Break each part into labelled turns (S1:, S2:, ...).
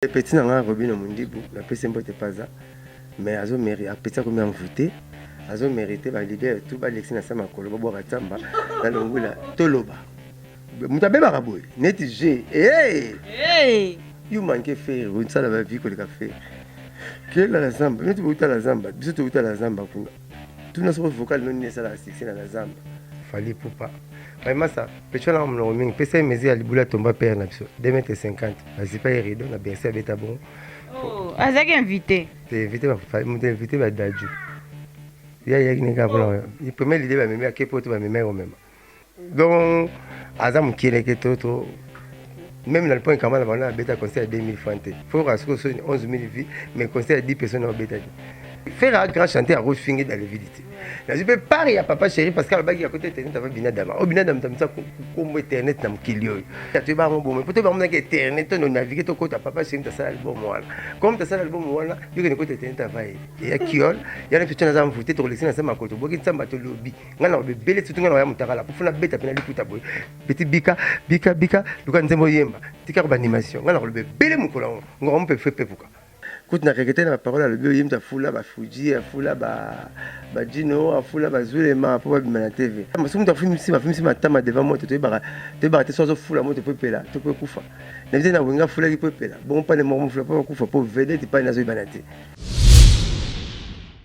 S1: Petit na ngai Robino Mundibu, napesi mbote paza, mais azo mérite, apeti akomi envoûté, azo mérite ba leader tout ba lexi na sa makolo, babwaka tsamba, na longula, toloba. Moto abebaka boye, neti je, hey! Hey! You manque faire, onisala ba vie koleka faire. Kela la zamba, neti bouta la zamba, biso touta la zamba kuna. tuna soko vocal noni esalaka succès na bazamba fali pupa baimasa pecho na monoko mingi pesa ye mesure ya libula tomba pere na biso 2m50 bazipa ye rido na berse abeta bongo oh, azalaki
S2: invité te invité
S1: moto invité badaju ye ayaki nenge apona ye premier lide bamemi ake poto bamemi akomema donc aza mokie leke to to même na lipoint kamala banda abeta conseil ya 2000 franc te fo kasi ko soni 11 000 vie mais conseil ya 10 personnes obetaki faire un grand chanteur akofingi dans le vide te nazwi mpe part ya papa chéri parce que alobaki ya kota internet ava binadama oyo binadama tamisa kombo internet na mokili oyo toyeba yango bomoi mpo toyeba monaki internet to nonavigue tokota papa chéri tasala album wana comme tasala album wana yokende kota internet ava ye eya kiol yana mpe tyo naza mvute tokolekisi na nse makoto boki nsambe atolobi nga na bebele tutu nga na ya mutakala mpo funa beta pena liputa boye beti bika bika bika luka nzembo yemba tika ko ba animation nga na koloba bebele mokolo yango ngoko mpe fe pepuka kutu na kekete na baparole alobi oye mutu afula bafuji afula bajino afula bazulema mpo babima na tv mosu mutu afimisi bafimisi matama devant moto toyebaka toyebaka te so azofula moto mpo epela to mpo ekufa na bize na wenga afulaki mpo epela bongo mpane moko mofula mpo bakufa mpo vedete mpane azoyebana te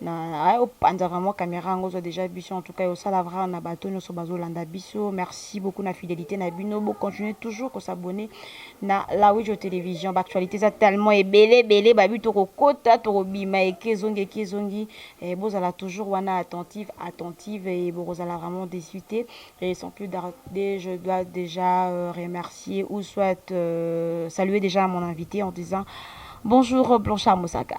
S2: na ayo panza vraiment caméra yango zo déjà biso en tout cas osala vraiment na bato nyonso bazolanda biso merci beaucoup na fidélité na bino bo continuer toujours ko s'abonner na la Wijo télévision ba actualité eza tellement ebele ebele babi tokokota tokobima eke ezongi eke ezongi eh, bozala toujours wana attentive attentive et bokozala vraiment déçu te et sans plus tarder je dois déjà euh, remercier ou soit euh, saluer déjà mon invité en disant bonjour Blanchard Moussaka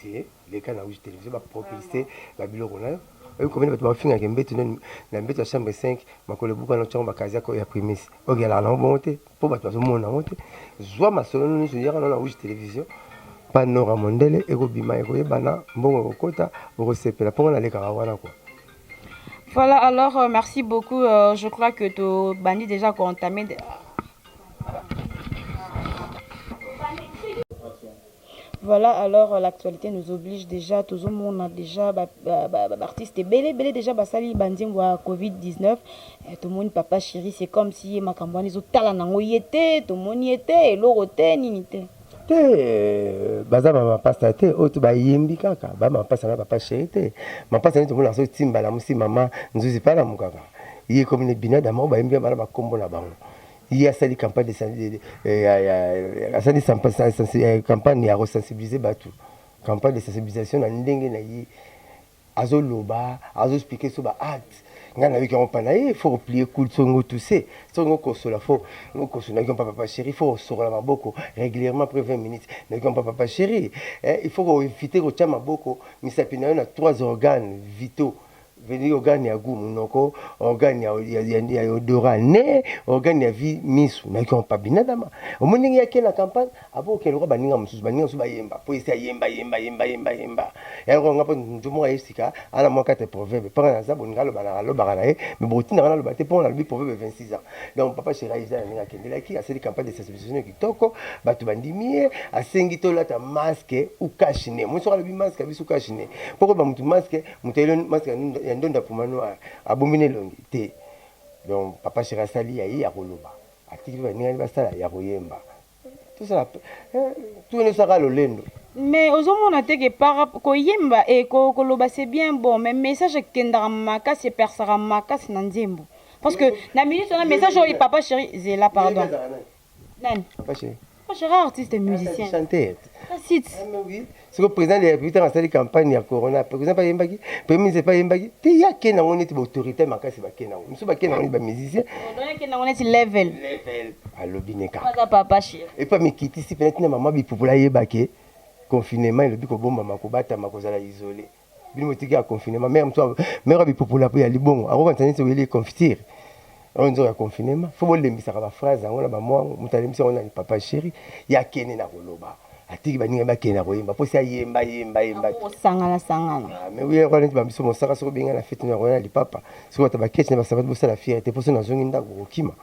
S1: te leka na uji television bapropulse babiloko nayo oyo komini bato bafingaka embeto nini na mbeto ya chambre 5 makolo ebuka na ntango bakazi yako ya primis ogelaka nango bongo te mpo bato bazomona yango te zwa masolo nyonso yaka nao na uji television panora mondele ekobima ekoyebana mbongo ekokota okosepela mpongo nalekaka wana kwa Voilà,
S2: alors euh, merci beaucoup. Euh, je crois que tu bandit déjà entamé. Voilà alors l'actualité nous oblige déjà tozo mona déjà ba artiste ebele ebele déjà basali ba nzembo ya Covid-19 eh, tomoni papa chéri c'est comme si ye makambo wana ezotala nango ye te tomoni ye te eloko te nini te te euh,
S1: baza ba mapasta te oyo to bayembi kaka ba mapasta na papa chéri te mapasta nde tomona azo timbala mosi mama nzuzi palamu kaka ye komi ne bina dama oyo bayembi bana bakombo na bango ye asali campagne asali campagne ya kosensibilize bato campagne de sensibilisation na ndenge na ye azoloba azoexplike so baacte ngai nayoki yango mpana ye fo koplie kul songo tuse songo kosola fo kosola nayoki mpa papa chéri fo kosokola maboko régulièrement après 20 minutes nayoki mpa papa chéri eh, il faut koevite kotya maboko misapi na yo na trois organes vitaux Veni organe ya gout munoko, organe ya, ya, ya, ya odorat nez, organe ya vie misu. Nayoki yango pa binadama. Omoni ndenge yake na campagne apo okende lokola baninga mosusu, baninga mosusu bayemba po esi ayemba yemba yemba yemba yemba. Ya lokola nga po njo moko aye sika ana mwa kate proverbe panga naza boninga aloba na alobaka na ye me bokotinda nga naloba te po nalobi proverbe 26 ans. Donc papa Sherai eza na ndenge akendelaki asali campagne de sensibilisation kitoko, bato bandimi ye, asengi tolata masque ou cache nez. Omoni soki alobi masque abisi ou cache nez po koyeba mutu masque moto ya elon musk ya ndonda puma noir abombi na elongi te donc papa sheri asali ya ye akoloba atiki baningani basala ya koyemba tosala eh, tuene osaka lolendo mais ozomona
S2: te ke para koyemba e koloba c'est bien bon mais message ekendaka makasi epersaka makasi na nzembo parce que na minute wana message oyo papa sheri zela pardon Nani? Papa chéri. Papa
S1: chéri artiste
S2: musicien. Chanteur.
S1: Site.
S2: siko
S1: président de la république ntango asali campagne ya corona président bayembaki premier ministre epai ayembaki te ye ake nango neti baautorité makasi bake nango mosusu bake nango neti bamusicien nango neti
S2: level alobi
S1: neka
S2: epai mikitisi mpenza
S1: ntina mama bipupola ayebake confinement elobi kobombama kobatama kozala isole bino botiki ya confinement mère mosusu mère ya bipupula mpe ya libongo akokanisa neti oyeli confitire oyo nzoka ya confinement fo bolembisaka baphrase yango na bamwango moto alembisa yango na papa sheri ye akende na koloba atiki baninga bakende na koyemba mposi ayemba yemba yemba osangana
S2: sangana ah, mais
S1: oyo yakwana neti bambiso mosaka soki obenga na fete na koya na lipapa soki bata baketi na basabati bosala fiere te mposo nazongi ndako kokima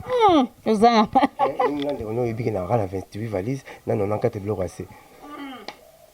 S1: hmm,
S2: oza na eh,
S1: ndeko na oyebiki na kaka na 28 valise na 94 biloko ase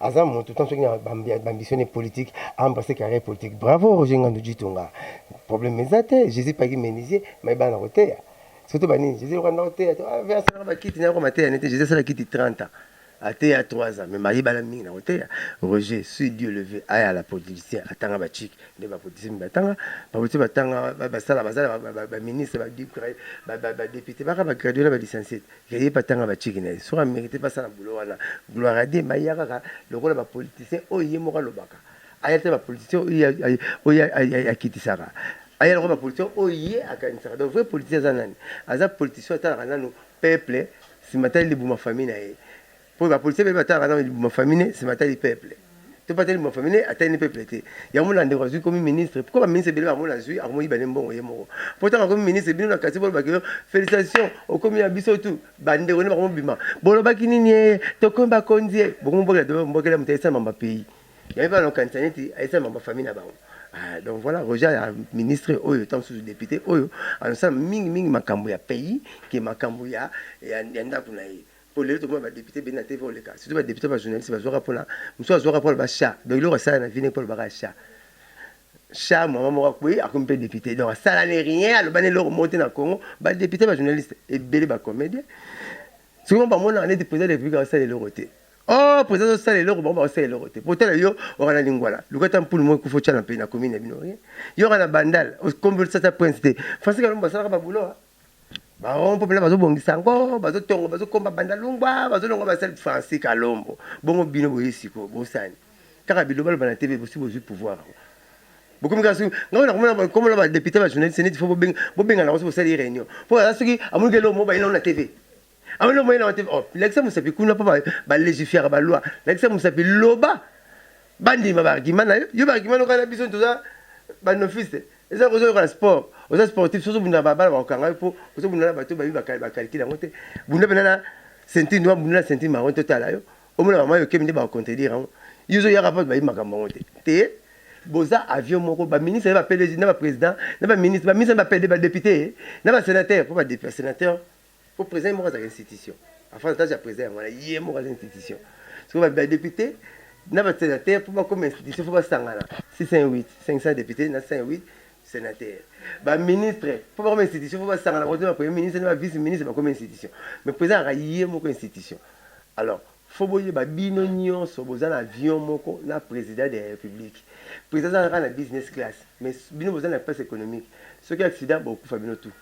S1: aza moto tant soki na bambition politique aembrasse carrière politique bravo roger ngandu jitonga problème eza te jésus paki menisier mai bana na koteya soki toba nini jésus lokanda koteya to ah, asalaka bakiti nayako mateya nete jésus asala kiti 30 ans ateya 3 ans mais mayebana mingi na koteya roger suis dieu levé aya la politicien atanga bachike nde bapoliticien mi batanga bapoliticien batanga basala basala baministre badepute baka bagraduela balicencie Yaya epa tanga ba chiki na ye soki amerite mpe asala boulot wana gloire à Dieu mais aya kaka lokola ba politicien oyo ye moko alobaka aya te ba politicien oyo akitisaka aya lokola ba politicien oyo ye akanisaka donc vrai politicien aza nani aza politicien atalaka nanu peuple nsima tali libuma famille na ye Po ba politiciens ba talaka na libuma famille ne se matali peuple. To patali libuma famille ne atali ne peuple te. Yango na ndeko azui komi ministre. Pourquoi ba ministre bele ba mona azui akomo iba ne mbongo ye moko. Po tanga komi ministre bino na quartier bolo ba kilo felicitations okomi ya biso tout ba ndeko ne bakomo bima. Bolo ba kini nie to komi ba konzi ye. Bokomo bokela dobe mbokela ya mutesa mamba pays. Yango ba na kanisa neti aisa mamba famille na bango. Ah, donc voilà Roger ya ministre oyo tant sous député oyo anasala mingi mingi makambo ya pays ke makambo ya ya, ya ndako na ye. po lelo tokomi ba député bende na TV oleka surtout ba député ba journaliste bazwaka pona mosusu azwaka pona ba chat donc eloko asala na vie ne pona baka chat chat mama moko akweyi akomi mpe député donc asala ne rien aloba ne eloko moko te na Congo ba député ba journaliste ebele ba comédien soki bamonaka neti président de la république asala eloko te oh président azosala eloko bango bakosala eloko te potala yo oka na lingwala luka ata mpulu moko ekufa otya na mpe na komini ya bino ye yoka na bandal okombi otisata prince te français kalombo asalaka babulo baron popela bazobongisa yango bazotongo bazokomba banda lungwa bazolonga basali francis kalombo bongo bino boye siko bosani kaka bilobaloba na tv bosi bozwi pouvoir yango bokomi kaka soki ngai nakomona bakomola badepute bajournaliste neti fo bobengana yango soki bosali réunion mpo aza soki amoniki eloko mo bayina ngo na tv Awa no moyena wate oh lakisa musapi kuna pa ba legifier ba loi lakisa musapi loba bandima ba argument na yo yo ba argument loka na biso toza ba nofiste eza ko zoka sport oza sportif sozo bunda ba bala ba kanga yo po ozo bunda na bato ba bi ba calcul yango te bunda bena na senti ndo bunda na senti marron to tala yo omona ba mayo kemi nde ba contredire yango yo zo yaka pa ba bi makambo yango te te boza avion moko ba ministre ba peleji na ba president na ba ministre ba ministre ba pede ba député na ba sénateur po ba député sénateur po president ye moko azalaka institution avantage ya president yango wana ye moko aza institution sikoyo badepute na basenateur mpo bakoma institution fo basangana 608 500 depute na 108 sénateur baministre mpo bakoma institution fo basangana bakoto na premier ministre na bavice ministre bakoma institution mais president aka ye moko institution alors fo boyeba bino nyonso boza na avion moko na president de la république president azalaka na business class mais bino boza na classe économique soki accident bokufa bino tout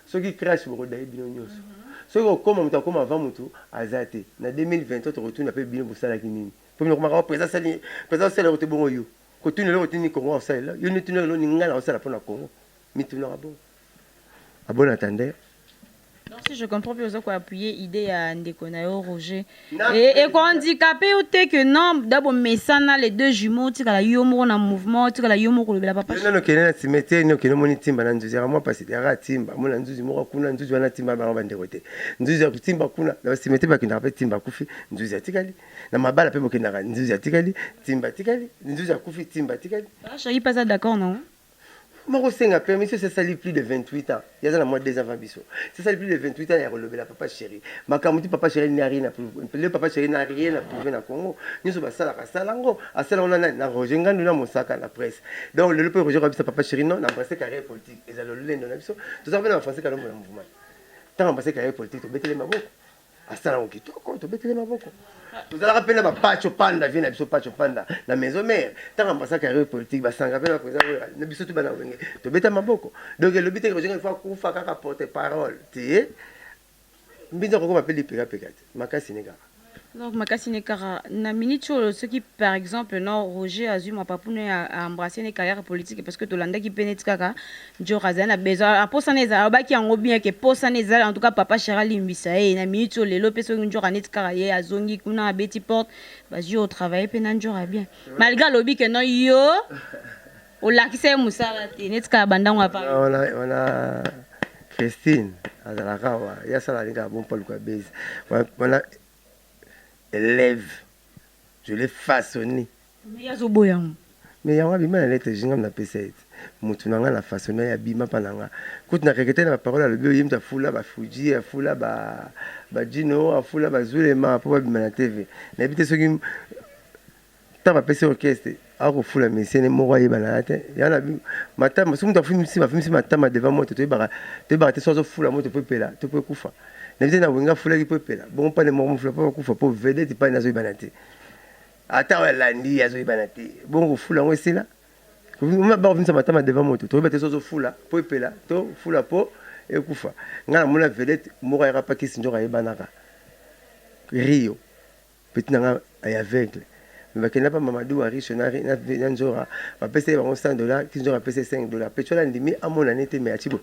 S1: Soki crash boko daye bino nioso soki kokoma mutu akoma avant mutu aza te na 2023 toko tuna pe bino bosalaki nini po bino komaka o president asali president osala eloko te bongo yo kotuna eloko te nini congo aosalela yo nde tuna eloko nini ngai naosala po na congo mitunaka bongo abona tande Donc si
S2: je comprends bien oza ko appuyer idee ya ndeko na yo Roger Et, et handicapé ou t'es que non d'abord mais ça n'a les deux jumeaux tu la yo moko na mouvement tu la yo moko le papa non non kena ti mete
S1: no kena moni timba na nzuzi moi parce que ra timba mona nzuzi moko kuna nzuzi wana timba ba bande kote nzuzi ya timba kuna na si mete ba kinda pe timba kufi nzuzi atikali na mabala pe bokenda nzuzi atikali timba atikali nzuzi akufi timba atikali ah je suis pas d'accord
S2: non makosenga
S1: permission ça sali plus de 28 ans yaza na mwa deux avant biso ça sali plus de 28 ans ya kolobela papa chéri makambo ti papa chéri n'a rien le papa chéri n'a rien approuvé na Congo nyonso basalaka asala ngo asala ona na Roger Ngandu na Mosaka na presse donc lelo pe Roger kabisa papa chéri non na embrasser carrière politique ezala lolendo na biso tozaka pe na français kalombo na mouvement tant embrasser carrière politique tobetele maboko asala yango kitoko tobetele maboko tozalaka mpe na bapacho panda vie na biso pacho panda na maison mare ntango ambasaka ya politique basanga mpe bakoza na biso tubana wenge tobeta maboko donc elobi te rojenga ifo akufa kaka porte parole te mbinza kokoma mpe lipekapeka te makasi ne kaka donc makasi
S2: ne kaka na minute oyo soki par exemple no roger azwi mapapune ya embrasse ne carrière politique parce que tolandaki mpe neti kaka Njora azali na besoin aposa na ezala alobaki yango bien ke posa na ezala en tout cas papa Chera limbisa ye na minute oyo lelo pe soki Njora neti kaka ye azongi kuna abeti porte bazwi au travailler pe na Njora bien malgré alobi ke non yo olakisa ye mosala te neti kaka bandango apa wana
S1: Christine azalaka wa ya sala alinga bon Paul kwa base wana élève je l'ai façonné Mais ye azo
S2: boya yango. Mais yango abima
S1: na lettre je nga na pesa ye te mutu na nga na façon na ye abima pa na nga kutu na regrette na ba parole alobi oyo ye mutu afula ba fuji afula ba ba djino afula ba zulema po ba bima na TV na yebi te soki ta ba pesi orchestre ako fula musicien moko ayeba na ya te ya na bi matama soki mutu afumi si ba fumi si matama devant moto to yebaka to yebaka te so azo fula moto pe pela to pe kufa na yebi te na wenga afulaki pe pela bon pa ne moko mufula po kufa po vedette pa na zo yebana te Ata oyo alandi ye azoyebana te. Bongo kofula yango esila? Bakofulisa matama devant moto. Toyeba te so ozofula mpo epela to fula mpo ekufa. Ngai namona vedette moko ayaka pa kisi nzoka ayebanaka. Rio. Petit na ngai ay aveugle. Mais bakenda pa Mamadou wa Riche na, na, na Nzora. Bapesa ye bango 100 dollars. Ti Nzora apesa ye 5 dollars. Petit wana andimi amona ne te mais achibo.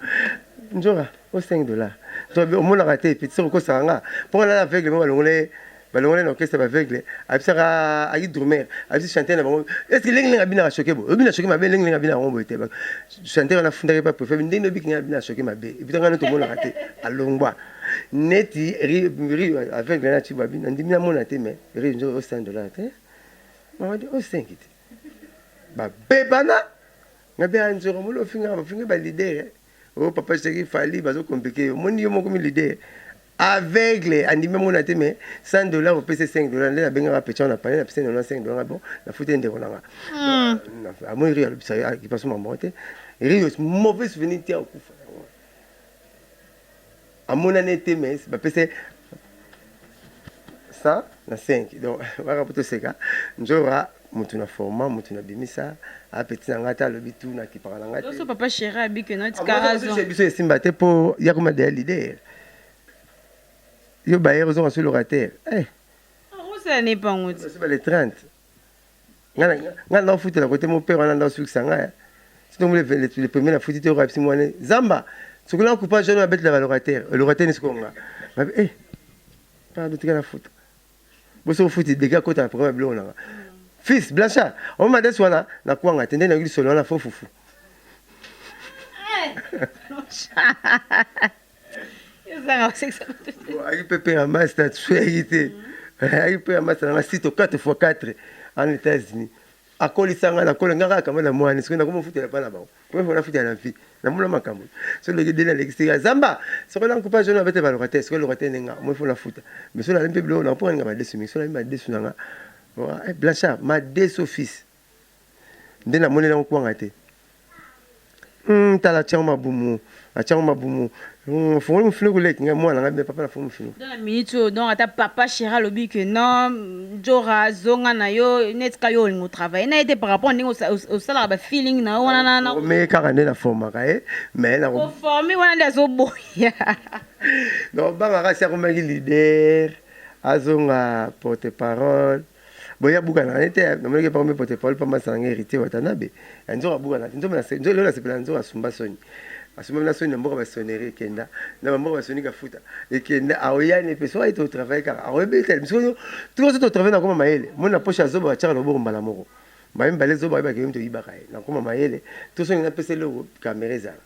S1: Nzora, o 5 dollars. Nzora, omonaka te. Petit soko kosaka nga. Mpo nga na aveugle moko alongola ye balongwa na orchestre ba aveugle abisaka ayi drummer abisi chanteur na bango est ce que lengi lengi abinaka choke bo obina choke mabe lengi lengi abinaka ngombo ete chanteur wana afundaki pa prophète ndenge obiki ngai abina choke mabe ebita ngai tomonaka te alongwa neti ri aveugle na chibo abina ndimi namona te mais ri nzo osengi dollar te mawadi osengi te babebana ngabe anzoro molo ofinga bafinga ba leader Oh papa chéri Fally bazo compliquer yo. Moni yo moko mi leader. Aveugle andimi mona te mais 100 dollars opese 5 dollars nde nabengaka pechan na pale na pese 95 dollars bon nafuti ndeko nanga. Hmm. Euh, Amoni rio alobisa yo akipaso ah, mama te. Rio mauvais souvenir te akufa. amonani ete mais bapesa ye 100 na 5 donc baka po toseka njora motu na forma motu na bimisa apeti na ngai ata alobi tu nakipaka na ngai Loso papa chéri abike
S2: na tika Amoni raison. biso- biso esimba te mpo
S1: ya koma deya lider yo bayer ozonga so locataire eh, Rosa
S2: ya nepango ti. basuba le 30
S1: nga nga na futa na kote mon père wana nda sukisa nga ya sinon mule le le premier na futi te ko apsi mwana zamba soki na kupa jeune abet la locataire le locataire ni sikonga ma eh pa de tika na futa bo so futi de ga kota programme blo na fils blanchard on m'a dit wana na kwanga tende na glisolo na fofufu ezanga kosekisa ayaki mpe mpe na masi na sweyaki te ayaki mpe na masi nanga sito 4 fois 4 en états-unis akolisa ngai nakola ngai kaka na mwani soki nakoma ofutela bana bango première fois nafutela na vie namona makambo soki leki deni alekisi ya zamba soki na nkupa jona abete baloka te soki eloka te nde nga omoi fo nafuta mais soki nalemi mpe biloko nakopoka ninga madesu mingi soki nalemi madesu na nga eh, blanchard madesu fils nde namoneli yango kwanga te hmm, tala atiango mabumu atiango mabumu hmm, fongoli mofinuku leki ngai mwana ngai papa na fongo mofinuku dans la minute oyo donc
S2: ata papa chera alobi que non jora zonga na yo neti ka yo olingo travaille na ye te par rapport ndenge osalaka ba feeling na yo wana na omeye kaka nde naformaka
S1: ye mais na oforme wana nde
S2: azoboya
S1: donc bangaka si akomaki leader azonga porte parole boya buka na ngai te namonaki epa omepota epaoli mpa mbasa na ngai héritier watanabe ya nzoka abuka na te nzombe lelo nasepela na nzoka asumba soni asumba na soni na mboka basoneri ekenda na bamboka basoni kafuta ekenda aoyani mpe soki ayete otravaille kaka aoyebetele biso oyo tokoso totravaille nakoma mayele moni na poshe ya zoba batiaka loboko mbala moko mbaye mibale zoba ayebaka yomi toyibaka ye nakoma mayele tosongi napesa eloko kamera ezala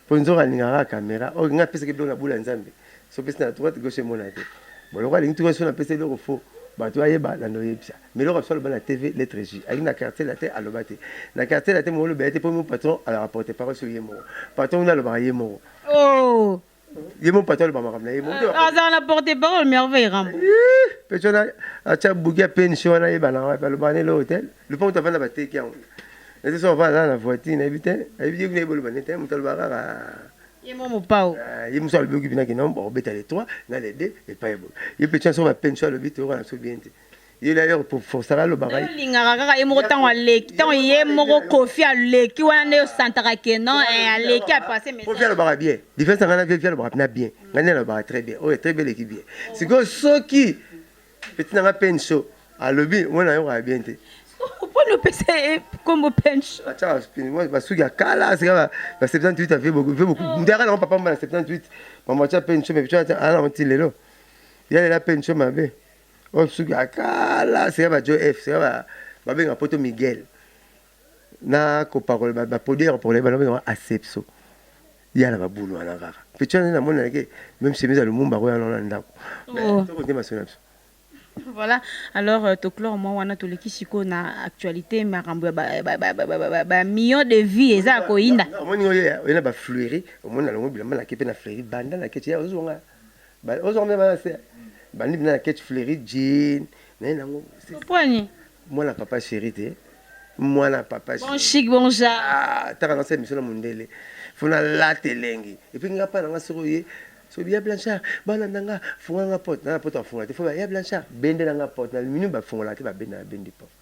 S1: po nzoka alinga kaka camera ok nga apesaki biloko na bula nzambe so pesi na droite gauche emona te bon lokola alingi tuka so na pesi eloko fo bato ayeba na noyebisa mais eloko biso aloba na tv lettre J alingi na quartier latin aloba te na quartier latin mongolobela te po mo patron ala rapporte parole sur ye moko patron wana alobaka ye moko oh
S2: ye mo patalo
S1: ba makambo na ye azala na porte
S2: parole merveille rambo pe tona
S1: acha bugi ya pension wana ye bana wapi aloba ne lo hotel le pont avanda ba teki yango na te so avanda na voiture na ye bite ayebi ye kuna ye boloba ne te moto aloba kaka ye mo
S2: mopao ah, ye mosu alobi okibi na
S1: kino obeta le 3 na le 2 epai ye bolo ye pe tona so ba pension alobi te okana so bien te ye d'ailleurs pour forsala alobaka ye olingaka kaka ye moko ntango
S2: aleki ntango ye moko kofi aleki wana nde osantaka ke non eh, aleki apase kofi message alobaka bien
S1: diference anga na viefi alobaka mpena bien ngai nde alobaka très bien oyo très bien eleki bien sikoyo soki peti nanga penso alobi mwana ayokaka bien te mpona opesa
S2: ye nkombo pension atyaka spin- mwa-
S1: basuki ya kala sika ba ba 78 avie beaucoup vie beaucoup moto yaka nango papa mba na 78 mama atya penso me biso ata ala nango ti lelo ya lela penso mabe oyo suki ya kala sika ba joe f sika ba babenga poto miguel na kopakola baproduit ya kopakola bana babenga asepso ya na babulu wana kaka mpeco wana namoni nake meme chemise ya lumumba koya wana na ndako oh. tokote masolo na biso voilà
S2: alors euh, toclore mwa wana toleki sikoyo na actualité makambo ya bamillion de vie eza ya koyinda omoni oyo oyena
S1: bafleuri omoni nalongo bilamba nake mpe na fleuri banda nake ozwanga Ba ozo komela bana se bandi bina na ketch fleuri jean na ye nango. Pwani.
S2: Mwana papa
S1: chéri te. Mwana papa chéri. Bon chic bon ja.
S2: Ah, taka na se mission
S1: na mundele. Fona la telengi. Et puis nga pa na nga soko ye soki ya Blanchard balanda nga funga nga porte na porte afunga te fo ya Blanchard bendela nga porte na aluminium bafungolaka te babenda nabendi porte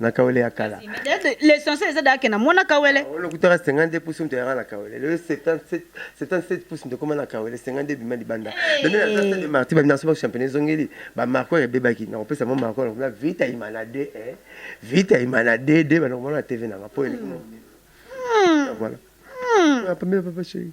S1: na kawele ya kala l'essentiel eza
S2: dake na mwana kawele ah, olokutaka 52
S1: pouce moto yaka na kawele lelo 77 pouce moto ekoma na kawele 52 bima libanda de marti bamina soba championnat ezongeli bamarco ebebaki nakopesa mwa marco nakobina vita imana de eh. vita imana de de banakomona na tv nanga mpo eleki hmm. voilà hmm. ah, pamela papa chérie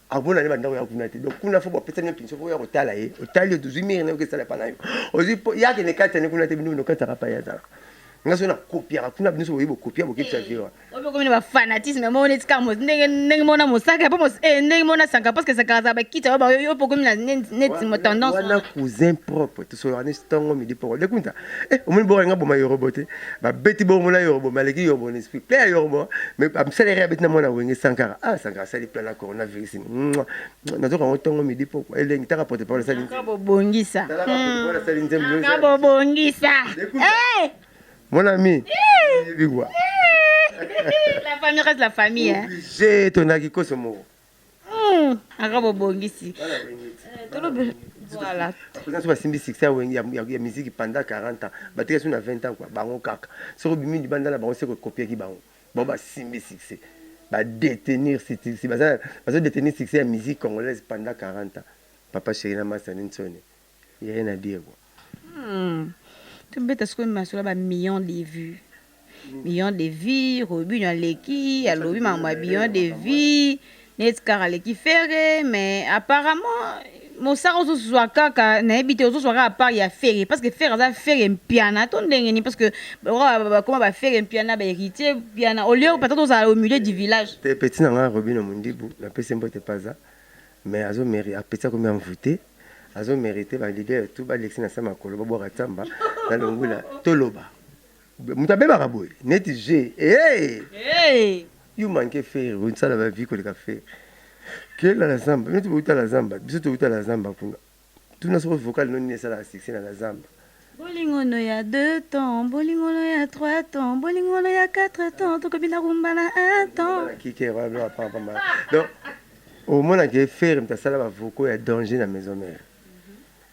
S1: abona ne bandako ya kuna te donc kuna fo bapesa nio kinso fo ya kotala ye otali oto ozwi mire nayoki esala epa na yo ozwi po yake ne kati ane kuna te bino binokatisaka pa ye azalaka nga so nakopiaka kuna bino so boye bokopia bokebisa eh, viwa obekomi na bafanatisme
S2: moko neti kaka ndenge ndenge mona mosaka po eh, ndenge mona sanka parce que sanka azala bakiti oyo bayo yo pokomi na neti tendance wana cousin
S1: propre tosolaka neti ntongo midi poko dekunta Eh, omoni boko alinga boma yorobo te babeti bongo na yorobo maleki yorobo na esprit plein ya yorobo mais bamisalere abeti na mwana wenge sankara ah sankara asali plein na coronavirus nazoka yango ntongo midi poko elengi taka porte parole asali bobongisa
S2: asali
S1: nzembo bobongisa
S2: mon ami
S1: bigwa la
S2: famille reste la famille obligé tonaki
S1: koso moko Hmm,
S2: aka bobongisi eh, voilà baza so basimbi succès
S1: ya wenge ya musique pendant 40 ans batika so na 20 ans kua bango kaka soki obimi libanda na bango se kokopiaki bango bango basimbi succès badetenir bazo detenir succès ya musique congolaise pendant 40 ans papa chéri na masa ninsone Yaya na Diego. Hum to
S2: beta sikoyo masolo ba millions de vues millions de vues robinho aleki alobi makambo ya millions de vues neti kaka aleki ferre mais apparemment mosaka ozozwa kaka nayebi te ozozwa kaka part ya ferre parce que ferre aza ferre mpiana to ndenge nini parce que bakoma ba ferre mpiana ba héritier mpiana au lieu peut-être ozala au milieu du village te petit na ngai robino
S1: mondibu napesi mbote paza mais azo meri apeti akomi envoute azo merite ba leader tout ba lexi na sa makolo ba bwaka tsamba na longula toloba moto abebaka boye neti je hey! hey! yo manke fere osala ba vie koleka fere kela na zamba neti bouta na zamba biso touta na zamba kuna tuna soko vocal no nini esalaka succès na na zamba Bolingo no
S2: ya deux temps, bolingo no ya trois temps, bolingo no ya quatre temps, tokobina rumba na un temps. Kike walo apa apa ma.
S1: Donc omona ke ferre mtasala ba vocaux ya danger na maison mère.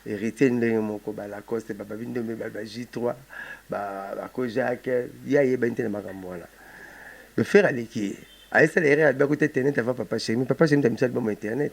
S1: héritier ndenge moko ba lacoste ba babi ndombe ba ba j3 ba ba ko jacques ye ayebani te na makambo wana le faire aleki ye ayesala erreur alobaki te internet avant papa chemi papa chemi tamisa aliboma internet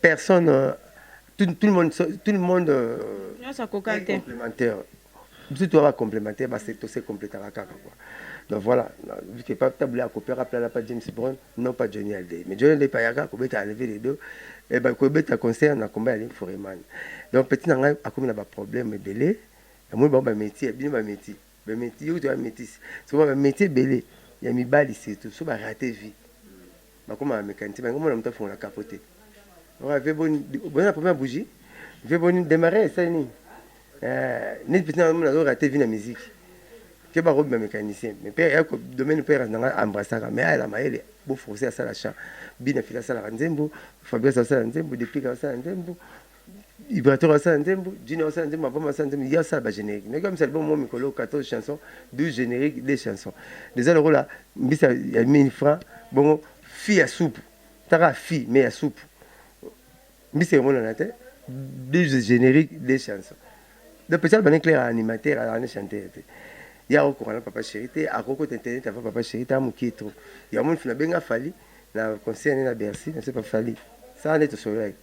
S1: personne euh, tout, tout le monde tout le monde euh, nyonso
S2: akoka te complémentaire
S1: biso toa bacomplémentaire tosecomplétaka kaka kua donc voilà tabule akopia kapelana pa james brown non pas johnny alde mais johnny alde payaka kobeta enlever les deux eh kobeta concert na combat ya link foreman donc petit na ngai akomi na baproblème ebele amoni bango bamétier bino bamétier ba meti yo toya metisi soko ba meti ebele ya mibali surtout so ba rate vie bakoma ba mekanisi ba ngomona moto afongola kapo te ora vie boni boza na problème ya bougie vie boni démarrer esali nini eh, neti peti na mona zo rate vie na musique ke ba robe ba mécanicien mais père ya ko domaine père na nga embrassaka mais ala mayele bo français asala chant bina fila asala nzembo fabrice asala nzembo deplique asala nzembo Ibrator asala nzembo, Junior asala nzembo, Mapama asala nzembo, ya asala ba générique. Nayoki misala bo mo mikolo 14 chansons, 12 génériques, 2 chansons. Eza lokola mbisa ya 1000 francs, bongo fi ya supu. Taka fi mais ya supu. Mbisa emonana te, 12 génériques, 2 chansons. Donc peut-être bani clair animateur, alors ne chanteur te. Ya okoka na papa chéri te, akoko te internet avant papa chéri ta mukie trop. Ya mon fina benga fali na concert na Bercy, na se pas fali. Ça n'est tout solai.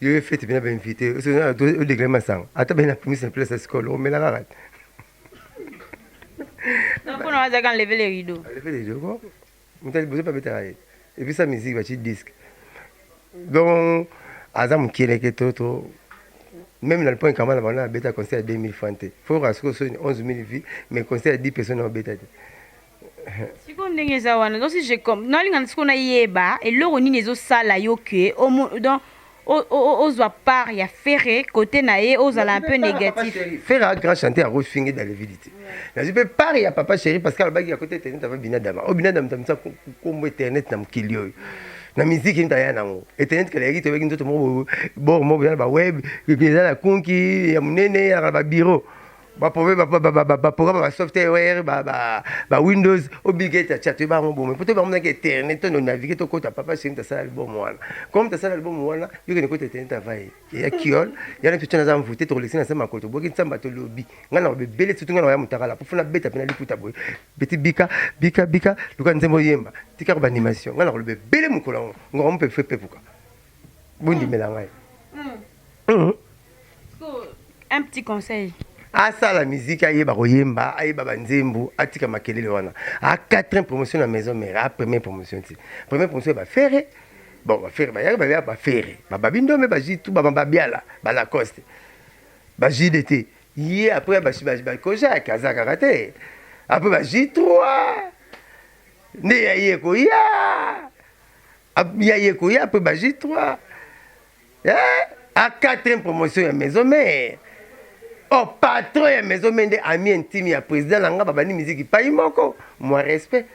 S1: yo ye fete bina bainvite odegle masanga ata bena primise na place ya sikolo omela kaka
S2: mpona wazaka enleve le rideau enleve le rideau ko
S1: mutali bozo pa betaka ye epesa musique baci disque donc aza mokieleke to to même na liponi kama na bango abeta concert ya 2000 franc te fo okoka sikoyo soni 11 000 vie mais concert ya 10 personne obeta te
S2: siko ndenge eza wana donc si je comme nalingana siko nayeba eloko nini ezosala yo ke donc ozwa part ya ferre kote na ye ozala un peu négatif ferre a grand chanteur
S1: akofingi dalevidi te nazwi mpe part ya papa chéri parce que alobaki ya kote internet ava binadama oyo binadama tamisa kombo internet na mokili oyo na miziki nta ya nango etenet kala yaki toyebaki nzoto moko bor moko eza na baweb eza na kunki ya monene ezalaka na babiro ba problème ba ba ba ba programme ba software ba ba ba windows obligate ya chat ba ngobo mais peut ba mona ke internet to naviguer to kota papa c'est une sala album wana comme ta sala album wana yo ke kota internet travail ya kiol ya na tutana za mvute to kolekisa na sema koto boki nsamba to lobi nga na bebele surtout nga na ya mutakala pour funa beta pena liputa boy beti bika bika bika luka nzembo yemba tika ko ba animation nga na ko bebele mukolo ngo mpe fe pepuka bondimela ngai
S2: Hum. Un petit conseil. asala
S1: miziki ayeba koyemba ayeba banzembo atika makelele wana a 4 promotion na maison mère a première promotion ti première promotion ya bafere bon bafere bayaki babia bafere bababi ndome bazwi tu bamababiala balacoste bazwi de te ye après bakojaki aza kaka te après bazwi 3 nde ya ye koya ya ye koya après bazwi 3 Eh, a quatrième promotion ya maison mère oh patron ya maison mère nde ami intime ya président na nga babandi miziki pai moko moi respect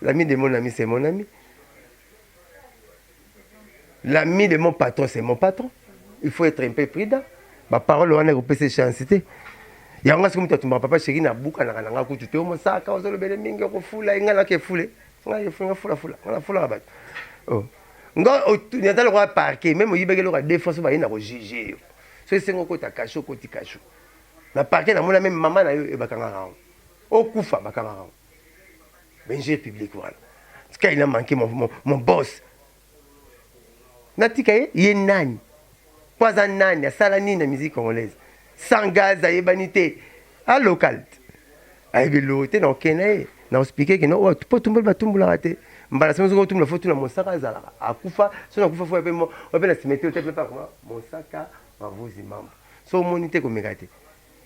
S1: l'ami de mon ami c'est mon ami l'ami de mon patron c'est mon patron il faut être un peu prudent baparole wana ekopesa chance te yango nga soki moto atumbaka papa sheri nabukanaka na nga kutu te omosaka ozolobele mingi okofula engai nake fule ngai efule nga fulafula nga nafulaka bato oh. nga ata lokola parke meme oyibaki eloko ya defense baye na kojuge yo so esengo okota kashu okoti kashu na parke namona meme mama na yo e bakangaka yango okufa bakangaka yango benjure publique wana tika ina manke mon, mon, mon boss natika ye ye nani Po aza nani? Asala nini na musique congolaise? Sans gaz ayebani te. A local. Ayebi eloko te na kokende na ye. Na expliquer que non, oyo po tumboli ba tumbolaka te. Mbala soki ozo tumbola faut tuna Monsaka azalaka. Akufa, soki akufa faut ya pe mo, oyo pe na cimetière otia pe pa koma Monsaka Mavuzi Mambo. Soki omoni te komeka te.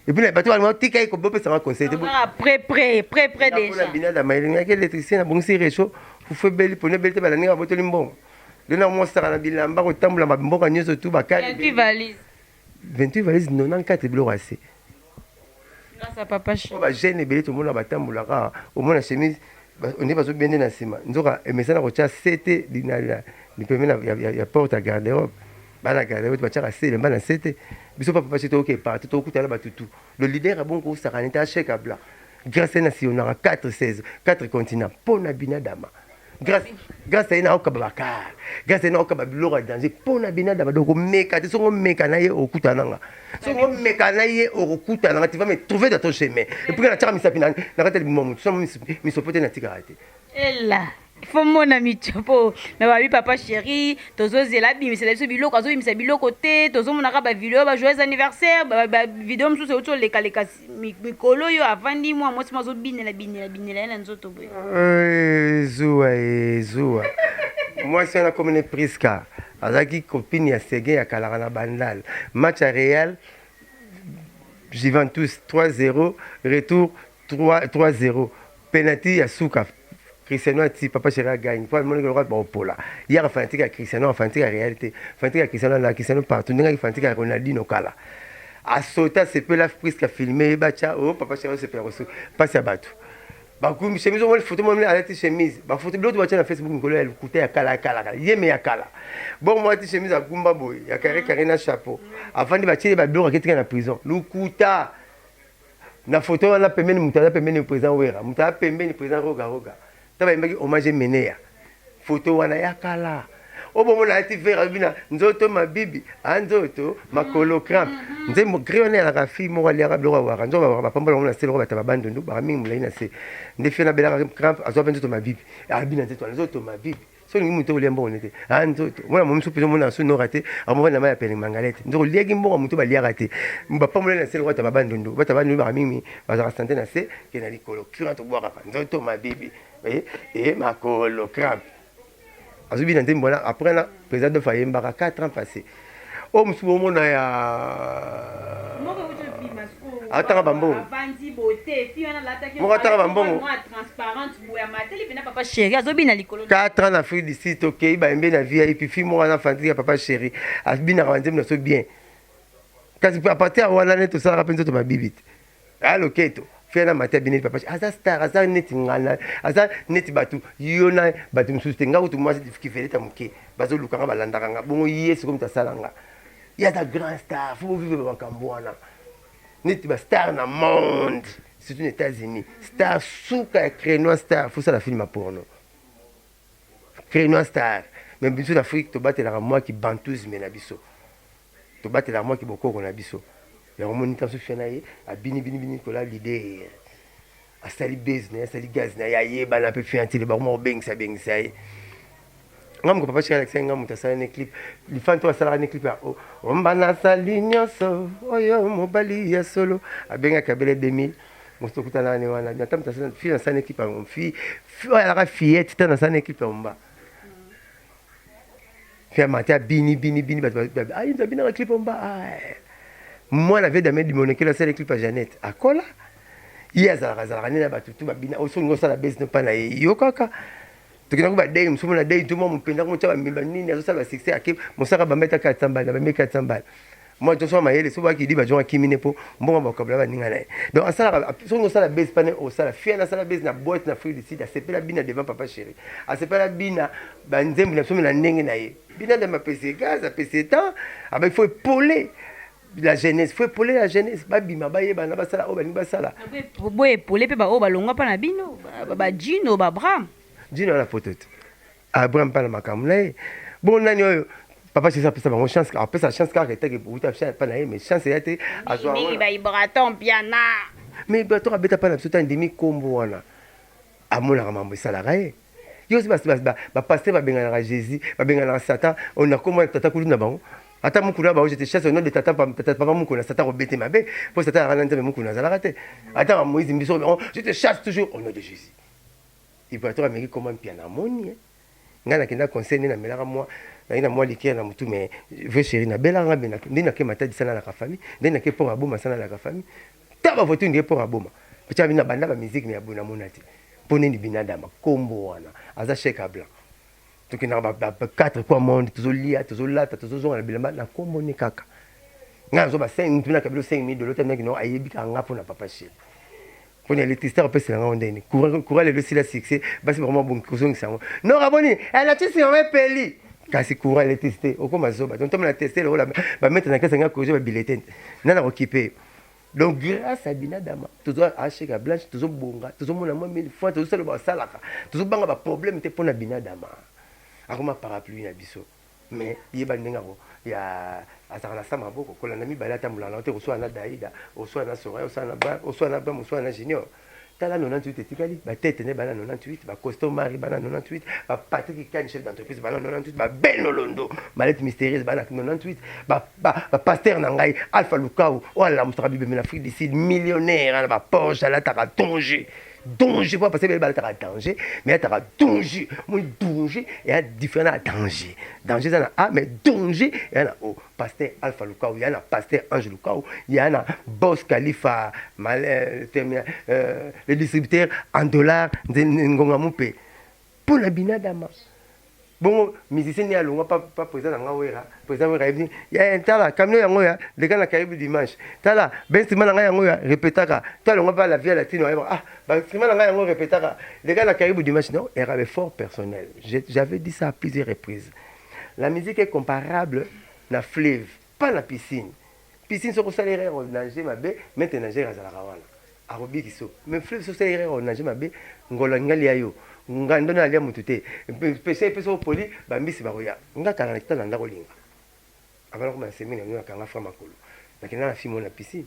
S1: Et puis bato balingaki tika ye bopesa nga conseil te pré pré pré
S2: pré déjà binada mayelingaki
S1: électricien na bongisi réchaud fufu ebeli pona ebeli te balandi nga botoli mbongo nde na mosaka na bilamba kotambola mboka nyonso tu bakari 28 valise
S2: 28 valise 94 biloko ya se bagene ebele tomona
S1: batambolaka omona chemise nde bazobende na nsima nzoka emesana kotya sete lipembe ya porte ya garde robe bana kala nayo batiaka se elemba na se te biso papa pasi toyoke parti tokutana batutu le leader ya bongo kosakana te ashek abla grâce na sionaka 4 16 4 continent mpo na binadama grâce grâce aye nakokaba bakar grâce aye nakokaba biloko ya danger mpo na binadama donc omeka te soki omeka na ye okutana nanga soki omeka na ye okokutana nanga tu vas me trouver dans ton chemin epuis natiaka misapi na kati ya libuma motu somo misopo te natikaka te ela
S2: fo mona micho mpo me babi papa chéri tozozela abimisela biso biloko azobimisa biloko te tozomonaka bavideo ba joyeux anniversaire bavideo mosusu euti olekaleka mikolo oyo avandi mwa mwasi mo azobinela binela binela ye na nzoto boye eh, zuwa eh,
S1: zuwa mwasi wana akomi ne priska azalaki copine ya sege ya kalaka na bandal match ya real juventus 3 0 retour 3 0 penalty ya suka Cristiano ati papa chéri a gagne po amoni lokola baopola ye aka fanatique ya Cristiano aka fanatique ya Real te fanatique ya Cristiano na Cristiano partout ndenge aki fanatique ya Ronaldinho kala asota asepela priske afilme ye batya o oh, papa chéri osepela kosu mpasi ya bato bakumbi chemise omoni foto moni alati chemise bafoto biloto batya na facebook mikolo ya lokuta ya kala ya kala kala yeme ya kala bongo mwa alati chemise agumba boye ya kare kare na chapeau avandi batyeli babiloko aketika na prison lokuta na photo wana pembeni moto aza pembeni président wera moto aza pembeni président roga roga ntango ayembaki hommage emeneya photo wana ya kala obomona ayati vere alobi na nzoto mabibi a nzoto makolo crampe mm-hmm. nzembo gri wana yalaka fille moko aliaka biloko awaka nzoka bawaka bapambola yango na se loko bataba bandundu baka mingi molai na se nde fie nabelaka crampe azwa mpe nzoto mabibi abina nzoto wana nzoto mabibi so olingi moto olia mbongo nete a nzoto mwana momi so mpenza omona na so nora te akomobali na mai ya pele mangala te nzoko oliaki mbongo moto baliaka te bapamboleli na se lokwata babandondo bata bandondo baka mingi bazalaka sante na se ke na likolo curant obwakaka nzoto mabibi e, e makolo crampe azobina nzembo wana après na président dof ayembaka 4 ans passé oyo mosusu bomona ya atanga bambongo moko atanga bambongo 4 ans na afrique du sud tokei bayembe na vip fi moko wana afandi ya papa chéri abinaka banzembo na so bien kasi apartir ya wana nde tosalaka mpe nzoto mabibi te Ah loketo fia na mata bineli papa aza star aza neti ngana aza neti bato yo na bato mosusu te nga kutu mwasi kiveleta moke bazoluka nga balandaka nga bongo ye sikoyo moto asala nga ye aza grand star fo bovive bamakambo wana neti bastar na monde surtout na états-unis star suka ya crénois star fosala film ya porno crénois star me biso na afrique tobatelaka mwa kibantusme na biso Tobatelaka mwa kibokoko na biso. Yango omoni tanso fia na ye abini bini bini kola leader. Asali base na ye, asali gaz na ye, ayebana mpe fia ntele bakoma kobengisa bengisa ye. Nga moko papa chika alakisaki nga moto asala ne clip. Lifan to asalaka ne clip ya oh, omba nasali nyonso oyo mobali ya solo abengaki abele 2000 moto tokutana ne wana ata moto asala fille asala ne clip ya fille oyo alaka fillette tana asala ne clip ya omba Fia mata bini bini bini bato ba ah inza bina la clip mba ah eh. mwana vie damien dimonekelo asala clip ya Jeannette akola ye azalaka azalaka nde na bato tu babina oyo oh, soki osala base no mpa na ye yo kaka tokendaki badei mosusu mona dei to mwa mopendaka motya bamemba nini azosala basuccès ake mosaka bambetaka ya tsambala na bameki ya tsambala moi to soma mayele soba ki diba jonga kimine po mbongo ba kabla ba ninga naye donc asala songo sala base pane o sala fia na sala base na boîte na fruit du sida sepela bina devant papa chéri asepela bina ba nzembo na somi na ndenge na ye bina de ma pese gaz a pese temps aba il faut poler la jeunesse faut epole la jeunesse babima bayebana basala oyo balingi basala boye epole
S2: mpe baoyo balongwa mpa na bino bajino babram jino na poto
S1: te Abraham pa na makambo na ye bo nani oyo papa jesus apesa bango chance apesa chance kaka etake uta pa na ye mais chance eya te azwamingi baibraton
S2: piana mais ibraton
S1: abeta pa na biso te andimi nkombo wana amonaka mambo esalaka ye yo osi bapaster babenganaka jésus babenganaka satan oyo na nkombo wana tata kulu na bango ata mukuna ba ojete chasse onode tata tata papa mukuna sata ko bete mabe po sata ya kana nzambe mukuna azalaka te ata ba moïse mbiso on je te chasse toujours au nom de jésus Ibrator ameki koma mpiana amoni ye. Ngai nakenda conseil nde namelaka mwa ngai na mwa likiere na motu mais vieux chéri nabelaka ngai bena nde nake matadi sana laka famille nde nake port aboma sana laka famille ta ba voiture nde port aboma pcha bina banda ba musique mais abona mona te mpo nini binadama kombo wana aza chèque à blanc tokendaka ba 4 coin monde tozolia tozolata tozozonga na bilamba na kombo ne kaka ngai nazo ba 5 mtu nakabilo 5000 dolota meki no ayebika nga mpo na papa chéri pona electricité akopesa na ngai ndeni courant lelo esila succès basi bakoma bongi kozongisa yango non aboni electricité yango epeli kasi courant electricité okoma zoba donc tomona teste lokola bameta na kesa ngai kozo babilete nani akokipe yo donc grâce à binadama tozwa achek ya blanche tozobonga tozomona mwa mille fois tozosala basalaka tozobanga baproblème te mpo na binadama akoma parapluie na biso mais yeba ndenge ako ya azaka na sa maboko kolanda mibale atambola na te koswana na daida oswana na soraya oswana na ba oswana na bam oswana na junior tala 98 etikali batete nde bana 98 bacosto mari bana 98 bapatrik kani chef d'entreprise bana 98 babeno londo malete mystérieuse bana 98 bapaster na ngai alpha lukau oyo alamusaka bibembe na afrique du sud millionnaire na baporsche alataka tonge ba danger po base bele balataka danger mais ataka danger moi danger eya différent na danger danger eza na a mais danger eya na o pasteur alpha lukau eya na pasteur ange lukau eya na bos kalifa le distributeur en dollar ngonga mupe Mpo na binadama. Bongo musicien ni alongwa pa pa président na nga wera président wera yebi ya eh, tala camion yango ya leka na kayebi dimanche tala ba instrument na nga yango ya répétaka to alongwa pa la vie latino ayeba ah ba instrument na nga yango répétaka leka na kayebi dimanche non era be fort personnel j'avais dit ça à plusieurs reprises la musique est comparable na fleuve Pas na piscine piscine soki osali erreur o nager mabe maître de nager azalaka wana akobikisa yo mais fleuve soki osali erreur o nager mabe ngolo alingi alia yo nga ndono alia mutu te pesa ye pesa opoli ba mbisi bakoya nga kala na kitanda ndako linga avant nakoma na semi na bino nakanga fra makolo nakenda na fille moko na piscine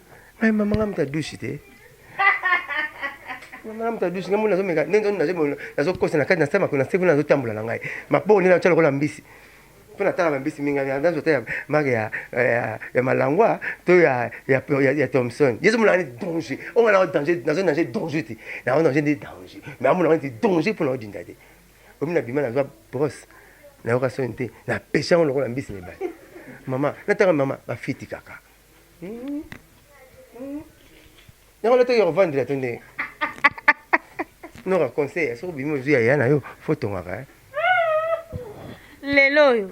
S1: mais mama nga mutu adusi te mama nga mutu adusi nga mona nazomeka nde nzomi nazokosa na kati na sema kuna sekuna nazotambola na ngai mapoo nde natya lokola mbisi mpo natalaka mbisi mingi nazo ta ya mare ya, ya, ya malangwa to ya, ya, ya, ya thomson yesu mona nde danger onga nao danger nazo danger danger te nao danger nde danger me amona nde danger mpo naodinda te omi na bima nazwa brosse nayoka soni te napesha yango lokola mbisi mibale mama natanga mama bafiti kaka yango lotoki ya kovandela to ndenge noka conseil soki obimi ozwi ya ya na yo fo tongaka
S2: lelo oyo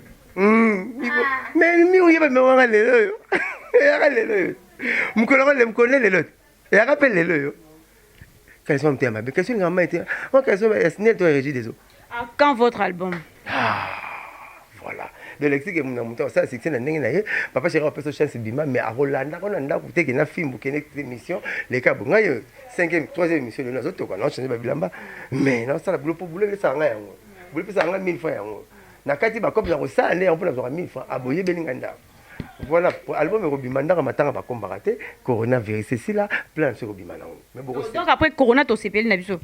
S1: mimi oyeba mewanga lelo oyo eyaka lelo oyo mokolo yango mokolo nde lelo te eyaka mpe lelo oyo Caleçon ya motema mabe. Caleçon elingaka mai te. Moi caleçon ya Snel to ya Régis des eaux. Ah, quand votre album?
S2: Ah,
S1: voilà. De lexique et mon moto ça succès na ndenge na ye. Papa chéri a peso chance bima mais a rolanda ko na ndaku te ke na fimbu ke next émission les cas bonga yo 5e 3e émission na zo toka na changer ba bilamba mais na sala boulot pour boulot le sanga yango. Boulot pesa nga 1000 francs yango. Na kati ba cop na ko sala nde en pour na 1000 francs aboye belinga ndaku. Voilà, album ekobima ndaka matanga bakombaka te corona virus esila plan biso ekobima nango mais boko donc après corona
S2: tosepeli na biso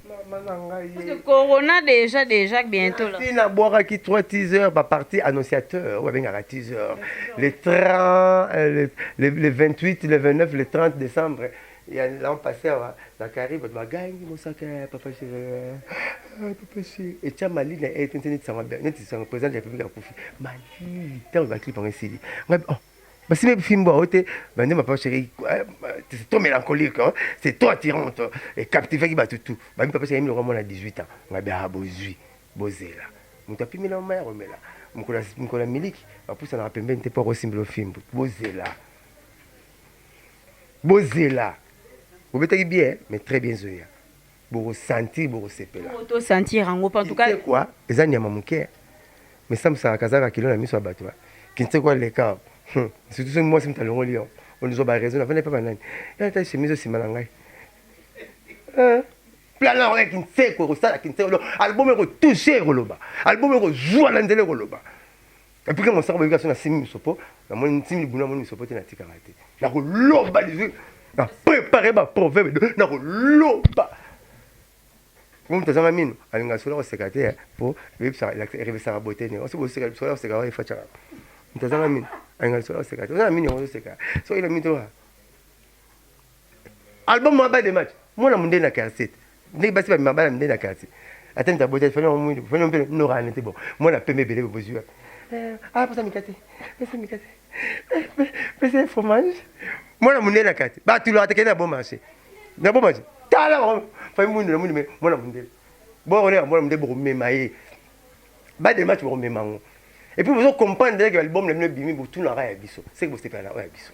S2: corona déjà déjà bientôt là na bwakaki
S1: trois teasers bapartie annonciateur oyo abengaka teaser le 30 euh, le, le 28 le 29 le 30 décembre ya l'an passé awa na kari bato bagangi mosaka ya papa chéri papa chéri etya mali na ete neti sango président de la république akufi mali ntango ba clip yango esili ngai oh, basibe bifimbo yango te bande mapa cheri eh, c'est trop mélancolique hein? c'est trop attirante ecaptivaki bato tout bami papa cheri miloko mwana 18 ans ngai biaa ah, bozwi bozela moto apimela mama ya komela mokolo ya miliki bapusanaka pembeni te mpo akosimbela ofimbo bozela bozela bobetaki bien mais très bien zoya boko sentir boko sepela oh, to sentir yango
S2: en tout cas quoi eza nyama moke
S1: mais ça musaka kazaka kilo na miso ya bato kinse quoi le cas hmm. surtout soki mwasi moto alongoli yo ondizwa ba raison avanda epa banani ya ta chemise osima na ngai eh. plan yango ya kinseko ekosala kinseko album ekotouche ekoloba album ekozwa na nzela ekoloba Epuis ke mosaka boyebi kaso na simi miso po na moni nsimi libulu na moni miso po te na tikaka te na koloba lizwi na prepare ba proverbe do na koloba po moto azanga mino alinga solo koseka te po ebebisaka erebisaka bote ne osi boseka solo koseka wa efacaka moto azanga mino alinga solo koseka te oza na mino yango ozoseka soki na mino toa album mwa bade match mwana munde na quartier ndenge basi bamema bana munde na quartier ata nita bota fanya mwindu fanya mpe nora nete bo mwana pembe ebele bozwi wapi eh, ah posa mikate pesa mikate eh, pesa fromage mwana munde na quartier batulaka te kende na bon marché na bon marché tala bango fai mwindu na mwindu me mwana munde bokoleka mwana munde bokomema ye bade match bokomema yango epuis bozo comprendre ke album na bino ebimi botunaka ya biso seke bosepela na oyo ya biso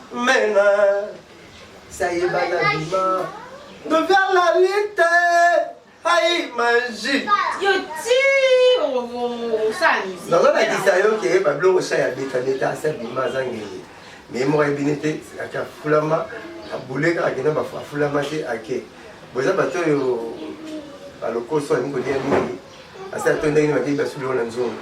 S1: mena sayeba na bima noviala lite aimaji
S2: nazolakisa
S1: yo
S2: ke
S1: babiloko sha ya betabeta asa bima azangeli me moko ayebini te ake afulama abule kaka kende afulama te ake boza bato oyo balokoso alingi kolia mingi asi ato ndenge nini bakei basuli oyo na nzongo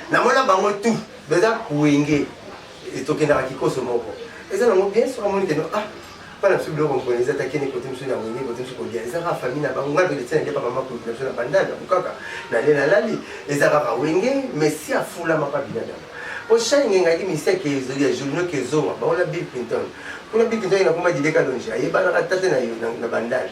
S1: Na mona bango tout beza wenge etokendaka kikoso moko eza nango bien soki amoni keno ah bana biso biloko mpona eza takende kote mosusu na wenge kote mosusu kolia eza kaka famille na bango ngai mpe letina nde papa makuluki na biso na bandal na bukaka na le nalali eza kaka wenge mais si afulamaka binadama mpo shani ngengaki miseke ezoli ya journaux kezonga bango na bill clinton kuna bill clinton ye nakoma dileka longe ayebanaka tate na yo na bandal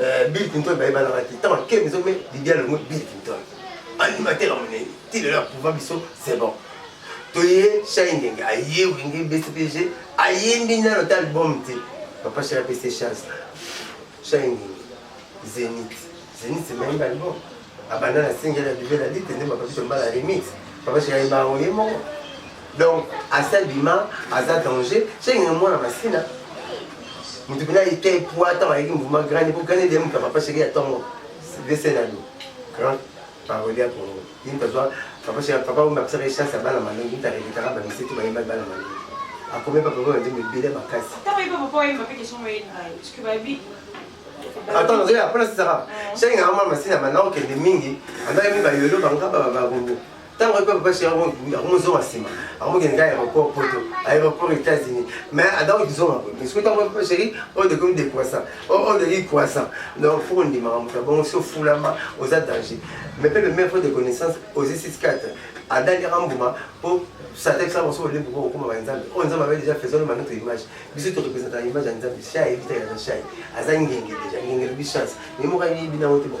S1: Eh, Bill Clinton bayebanaka te ntango akei biso me bibi alongo Bill Clinton animateur ya monene ti lelo aprouva biso c'est bon toye shai ngenge aye wenge bcpg ayembi nano ta album te papa shai apesi chance shai ngenge zenit zenit mayembi album abanda na singele ya bibela lite nde papa biso mbala remix papa shai ayemba yango ye moko Donc asa bima aza danger cenge mwana masina mutu bina ite pwa ntango ayeki mouvement grande po grande de moto ya papa sheri ya ntongo vesenado grand parole ya kongo ye moto azwa papa sheri papa oyo akosaka ye chance ya bana malongi moto arevitaka bamisete bayembaki bana malongi akomi papa oyo nzembo ebele makasi
S2: ata
S1: nazoya mpona sisaka shenge yango mwana masina banda kokende mingi andaka mingi bayolo bangaba bakongo ntango ayebi papa sheri akomozonga nsima akomokende ka aéroport poto aéroport états-unis mais adako kizonga boye mais soki ntango papa sheri oyo de komi décroissant oyo de ki croissant donc fo kondimaka moto ya bongo so fulama oza danger mais mpe le maire de connaissance ozi 64 adaliaka mbuma mpo satan kisala mosusu olembo mpo kokoma ba nzambe oyo nzambe abe déjà faisons ma notre image biso to représentaka image ya nzambe shai ebitaka na shai aza ngenge déjà ngenge lobi chance mais moko ayebi nango te bon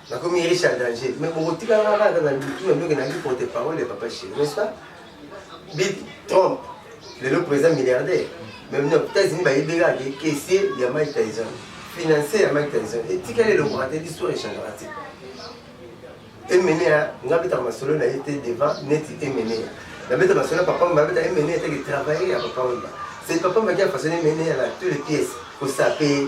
S1: nakomi riche ya danger mais bokotika nga kaka na mitu na ndoki nayaki porte parole ya papa cheri n'est-ce pas bit trump lelo président milliardaire mais na états-unis bayebi kaka ke caissier ya mike tyson financier ya mike tyson etikali elokaka te l'histoire echangaka te emenea nga betaka masolo na ye te devant neti emenea nabeta masolo ya papa mba abeta emenea etaki travailler ya papa mba c'est papa mba ki afaçonne emenea na tous les pièces kosape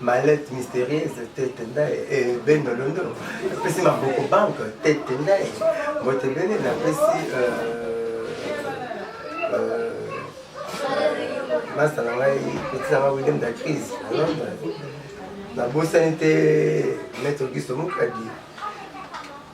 S1: malette mystérieuse tete ndaye eh, ben olondo napesi maboko banque tete ndaye mbote bene napesi masta na ngai petit na ngai william da crise na londres nabosani te maître giso mokadi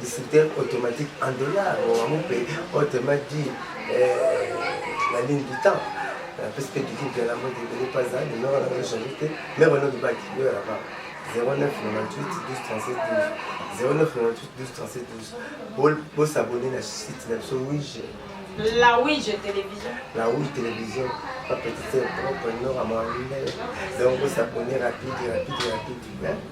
S1: distributeur automatique en dollars wango mpe autrement dit la ligne du temps napesi mpe dikiki ya lango ebele mpe azali numero na yo change te me bana olobaki yo ya laba 0998 12 bosabone na site na biso wige
S2: La Ouija Télévision.
S1: La Ouija Télévision, pas petite, propre, non, à mon Donc, vous s'abonnez rapide, rapide, rapide. Hein?